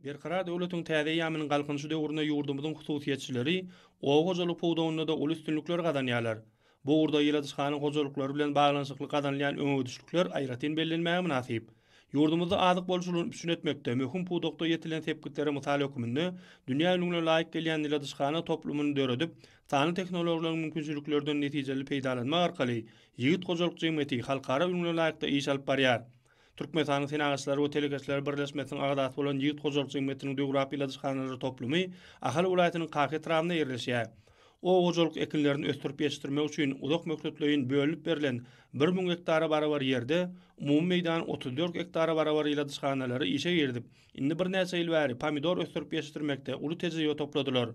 Berkarar döwletiň täze eýýamynyň Galkynyşy döwründe ýurdumyzyň hususyýetçileri oba hojalygy pudagynda-da uly üstünlikleri gazanýarlar. Bu ugurda ýyladyşhana hojalyklary bilen baglanyşykly gazanylýan öňegidişlikler aýratyn bellenmäge mynasyp. Ýurdumyzda azyk bolçulygyny üpjün etmekde möhüm pudakda ýetilen sepgitlere mysal hökmünde dünýä ülňüne laýyk gelýän ýyladyşhana toplumyny döredip, sanly tehnologiýalaryň mümkinçiliklerden netijeli peýdalanmak arkaly ýigit hojalyk jemgyýeti halkara ülňüne laýykda iş alyp barýar. Türkmenistanyň Senagatçylary we telekeçileri birleşmesiniň agzasy bolan ýigit hojalyk jemgyýetiniň döwrap ýyladyşhanalary toplumy Ahal welaýatynyň Kaka etrabynda ýerleşýär. Oba hojalyk ekinlerini ösdürip ýetişdirmek üçin uzak möhletleýin bölünip berlen bir müň gektara barabar ýerde umumy meýdan otuz dört gektara barabar ýyladyşhanalary işe girizip, indi birnäçe ýyl bäri pomidor ösdürip ýetişdirmekde uly tejribe topladylar.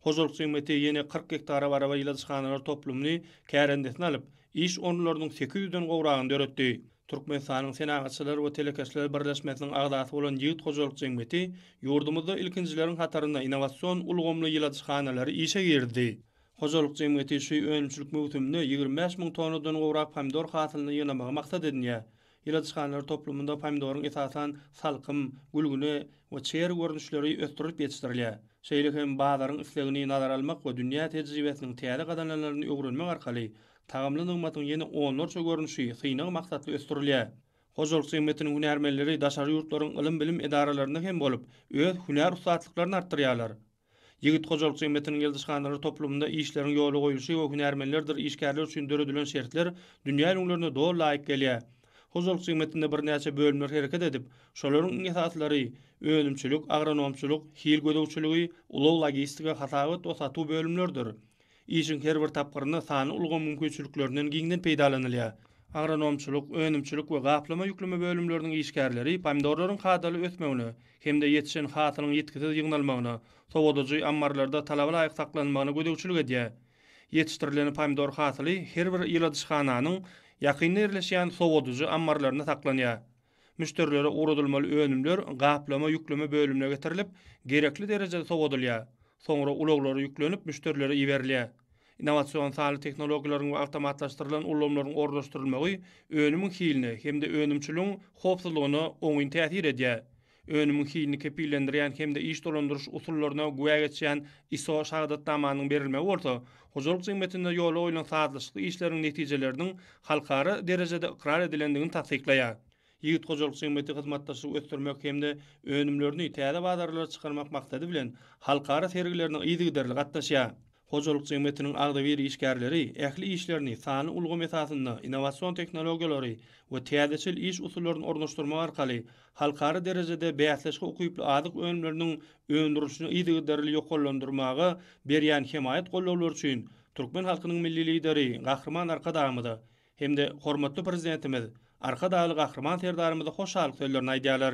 Hojalyk segmenti ýene kyrk gektara barabar ýyladyşhanalar toplumyny kärendesine alyp, iş orunlarynyň sekiz ýüzden gowragyny döretdi. Türkmenistanyň Senagatçylar we telekeçiler birleşmesiniň agzasy bolan Ýigit hojalyk jemgyýeti ýurdumyzda ilkinjileriň hatarynda innowasion ulgamly ýyladyşhanalary işe girizdi. Hojalyk jemgyýeti şu önümçilik möwsüminde ýigrimi bäş müň tonnadan gowrak pomidor hasylyny ýygnamagy maksat edinýär. Ýyladyşhanlar toplumynda pomidoryň esasan salkym, gülgüne we çeri görnüşleri ösdürilip ýetişdirilýär. Şeýle hem bazaryň islegini nazara almak we dünýä tejribesiniň täze gazananlaryny öwrenmek arkaly tagamly nygmatyň ýene onlarça görnüşi synag maksatly ösdürilýär. Hojalyk jemgyýetiniň hünärmenleri daşary ýurtlaryň ylym-bilim edaralarynda hem bolup, öz hünär ussatlyklaryny artdyrýarlar. Ýigit hojalyk jemgyýetiniň ýyldyzhanalary toplumynda işleriň ýola goýluşy we hünärmenlerdir işgärler üçin döredilen şertler dünýä ülňülerine doly laýyk gelýär. Hojalyk jemgyýetinde birnäçe bölümler hereket edip, şolaryň iň esaslary, önümçilik, agronomçylyk, hil gözegçiligi, ulag-logistika, hasabat we satuw bölümleridir. Işiň her bir tapgyrynda sanly ulgam mümkinçiliklerinden giňden peýdalanylýar. Agronomçylyk, önümçilik we gaplama-ýükleme bölümleriniň işgärleri pomidorlaryň kadaly ösmegine hem-de ýetişen hasylyň ýitgisiz ýygnalmagyna, sowadyjy ammarlarda talaba laýyk saklanmagyna gözegçilik edýär. Ýetişdirilen pomidor hasyly her bir ýyladyşhananyň ýakynda ýerleşýän sowadyjy ammarlarynda saklanýar. Müşderilere ugradylmaly önümler gaplama, ýükleme bölümine getirilip, gerekli derejede sowadylýar. Soňra ulaglara ýüklenip, müşderilere iberilýär. Innowasion sanly tehnologiýalaryň we awtomatlaşdyrylan ulgamlaryň ornaşdyrylmagy önümiň hiline hem-de önümçiligiň howpsuzlygyna oňyn täsir edýär. Önümiň hilini kepillendirýän hem-de iş dolandyryş usullaryna güwä geçýän ISO şahadatnamanyň berilmegi bolsa, hojalyk jemgyýetinde ýola goýlan sazlaşykly işleriň netijeleriniň halkara derejede ykrar edilendigini tassyklaýar. Ýigit hojalyk jemgyýeti hyzmatdaşlygy ösdürmek hem-de önümlerini täze bazarlara çykarmak maksady bilen halkara sergilerine yzygiderli gatnaşýar. Hojalyk jemgyýetiniň agzybir işgärleri ähli işlerini sanly ulgam esasynda, innowasion tehnologiýalary we täzeçil iş usullaryny ornaşdyrmak arkaly halkara derejede bäsleşige ukyply azyk önümleriniň öndürilişini yzygiderli ýokarlandyrmaga berýän hemaýat gollawlary üçin türkmen halkynyň Milli Lideri Gahryman Arkadagymyza hem-de hormatly Prezidentimiz Arkadagly Gahryman Serdarymyza hoşallyk sözlerini aýdýarlar.